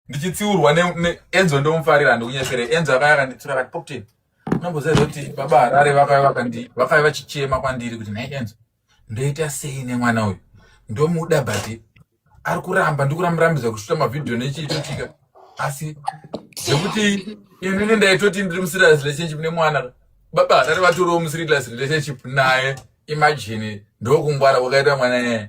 ndichitsiurwa neenzo ndomufarira ndikunyesere enzo akaya akanditura akati popten unamboziva kuti baba harare vakave vachichema kwandiri kuti nhai enzo ndoita sei nemwana uyu ndomuda but ari kuramba ndikuramurambidza kushuta mavhidhiyo nechiitotika asi zvekuti inini ndaitoti ndiri muserious relationship nemwana baba hatari vatoriwo muserious relationship naye imagine ndokungwara kwakaita mwana nyaya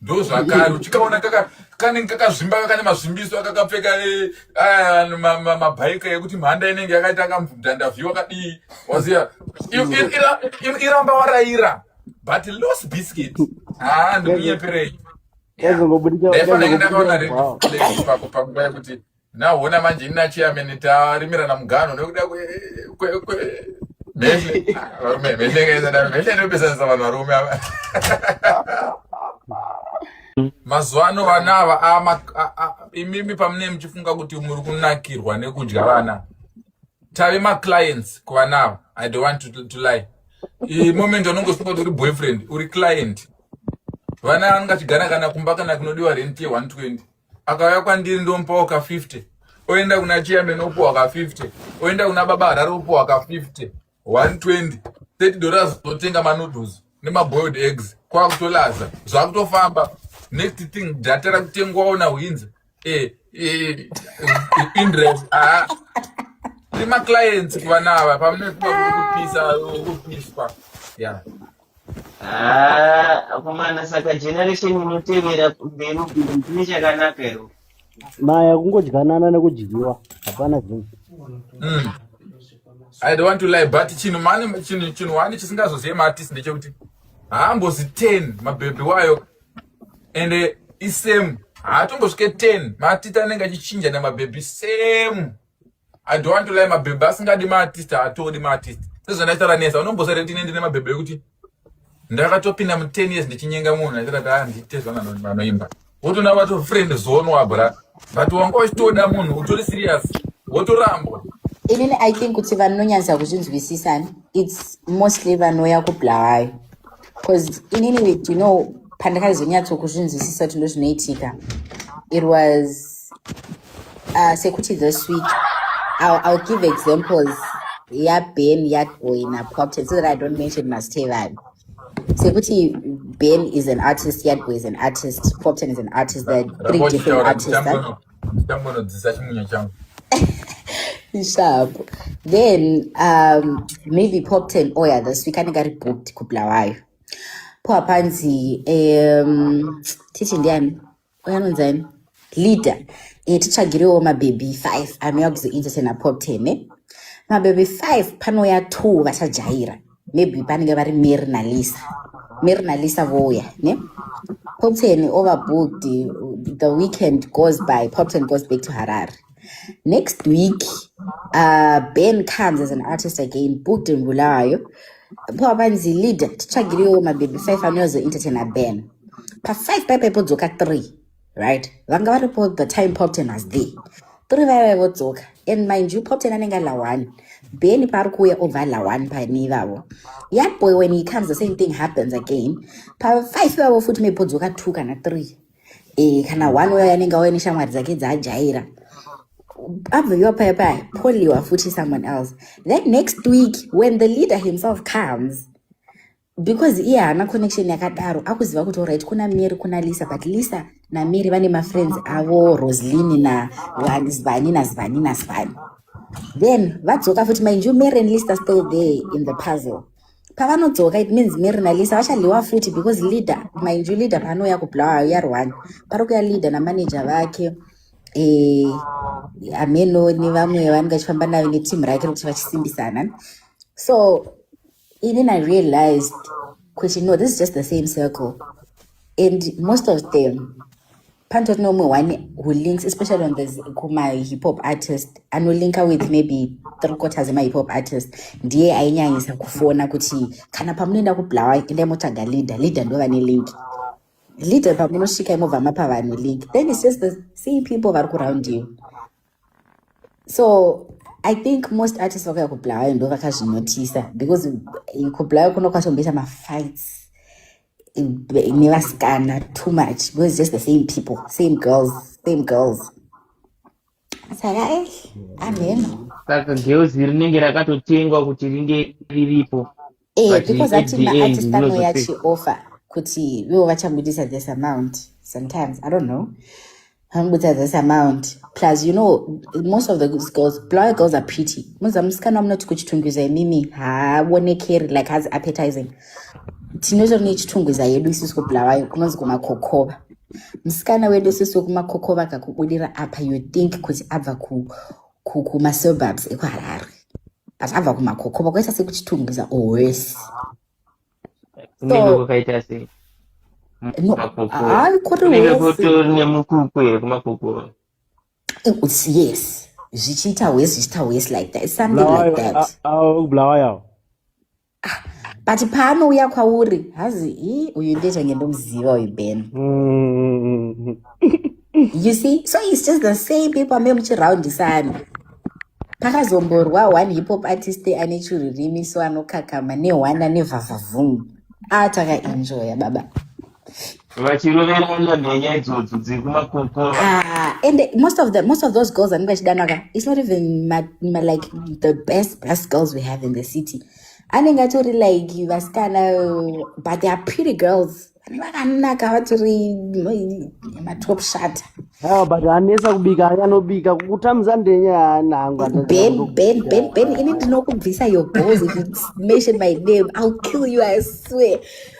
ndozvakari uchikaona kanenge kakazvimba kakane mazvimbiso akakapfeka eh, aya mabhaika ekuti mhanda inenge yakaita kamudhandavhi wakadii waziva iramba waraira but los biscuit haa ndikuyeperei ndaifanenge ndakaona red flag pako panguva yekuti Naona manje ini nachairman tarimirana mugano nekuda mhehle varume mhehle kaizadaro mhehle inopesanisa vanhu varume ava mazuva ano vana ava imimi pamune muchifunga kuti muri kunakirwa nekudya vana tave maclients kuvana ava i don't want to, to lie imoment anongosunga kuti uri boyfriend uri client vana anongachigara kana kumba kana kunodiwa rent ye 120 akauya kwandiri ndomupawo ka 50 oenda kuna chairman opuwa ka 50 oenda kuna baba harare opuwa ka 50 120 30 dollars totenga manoodles nemaboiled eggs kwakutolaza zvakutofamba next thing data rakutengwawo nahwinzi eh, eh, indres haa rimaclients kuvana ava pamunekupisa kupiswa ya yeah. Ah, akomana saka generation inotevera mberi ndine chakanaka iro. Maya kungodyanana nekudyiwa hapana zvinhu. Mm. I don't want to lie but chinhu mani chinhu chinhu wani chisingazozive maartist ndechekuti haambozi 10 mabhebhi wayo and isame haatombosvike 10 maartist anenge achichinja namabhebhi same I don't want to lie mabhebhe asingadi maartist haatodi maartist sezvandaita ranesa unombosati kuti ine ndine mabhebhe ekuti ndakatopinda mu ten years ndichinyenga munhu aitira kuti aa ndiite zvananoimba wotoona vato friend zone wabra but wanga uchitoda munhu utori serious wotorambwa inini i think kuti vanonyanyisa kuzvinzwisisa its mostly vanouya kubulawayo because inini with you know pandakaizonyatso kuzvinzwisisa kuti ndozvinoitika it was uh, sekuti this week I'll, I'll give examples yaben yagoina popten so that i don't mention mastevan sekuti ben is an artist yadgo is an artist popten is an artist the three different artists that, ndichambonodzisa chimunyo changu sharp then um, maybe pop ten oya oh this week anenge ari booked kubulawayo po hapanzi um, titi ndiani oya anonzi ani leader e, titsvagirewo mabhebhi five anouya kuzoentertaina pop ten ne eh? mabhebhi five panouya two vachajaira maybe panenge vari mary nalisa mary nalisa vouya ne popton overbooked the weekend goes by popton goes back to harare next week uh, ben comes as an artist again booked in bulawayo po apanzi leader titsvagiriwo mabhebhi five anoyozoentertaina ben pa five paipa ipodzoka three right vanga varipo the time popton was there three vaive vodzoka and mind you popton anenge ari lawani beni paari kuuya obva ari lawani pani ivavo young boy when he comes the same thing happens again pafive ivavo futi maybe podzoka two kana three e, kana one uya anenge auya neshamwari dzake dzaajaira abveviwa paya paya poliwa futi someone else then next week when the leader himself comes because iye haana connection yakadaro akuziva kuti orit kuna mary kuna lisa but lisa namary vane mafriends avo roslin nazvani nazvani nazvani then vadzoka futi mind you mary and lisa still there in the puzzle pavanodzoka it means mary nalisa vachadliwa futi because leader mind you leader paanouya kublawa uyarwani pari kuya leader namanager vake eh, ameno nevamwe vanenge vachifamba navo neteam rake rekuti vachisimbisana so even i realized kuti no this is just the same circle and most of them panotori neumwe one who links especially on this kumahip hop artist anolinka with maybe three quarters emahip hop artist ndiye ainyanyisa kufona kuti kana pamunoenda kublawa endai motsvaga leader leader ndo vane link leader pamunosvika imobva mapa vanhu link then its just the same people vari kuround you so i think most artists vakauya kubulawayo ndo vakazvinotisa because eh, kubulawayo kuno kwatomboita mafights nevasikana too much because just the same people same girls same girls saka e ameno saka girls rinenge rakatotengwa kuti ringe riripo Eh, but because at ati the end maartist anouya ndinozopedza achioffer kuti ivo vachabudisa this amount sometimes i don't know vamubudisa this amount plus you know most of the girls blawa girls are pretty muza musikana munoti kuchitungwiza imimi haaonekeri like hazi appetizing tinotori nechitungwiza yedu isusu kubulawayo kunonzi kumakokova musikana wedu isusu wekumakokova kakubudira apa you think kuti abva ku kumasurbubs ekuharare but abva kumakokoba kwaita sekuchitungwiza owese yes zvichiita wes zvichiita wes like that something like that ah, but paanouya kwauri hazi i uyu ndezvange ndomuziva uyu ben mm. you see so its just the same people amee muchiraundisana pakazomborwa one hipop artist ane churirimi so anokakama neone ane vhavhavhungu a ah, takaenjoya baba vachiroverana nenyaya idzodzo dziri kumakokora Ah, and the- most of the most of those girls anenge achidanaka it's not even ma, ma, like the best best girls we have in the city anenge atori like vasikana uh, but they are pretty girls vanenge vakanaka vatori mm, matop shata Ah, but anesa kubika aya anobika kutamza ndenya yaana hangu atadza ben kundo ben ben ben ini ndinokubvisa your balls if you mention my name i'll kill you i swear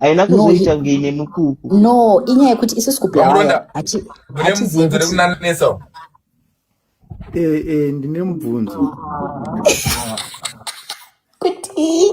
haina kuzoita kunge ine mukuku no inyaya yekuti isusu kublaaya hatizivi eh, eh, ndine mubvunzo kuti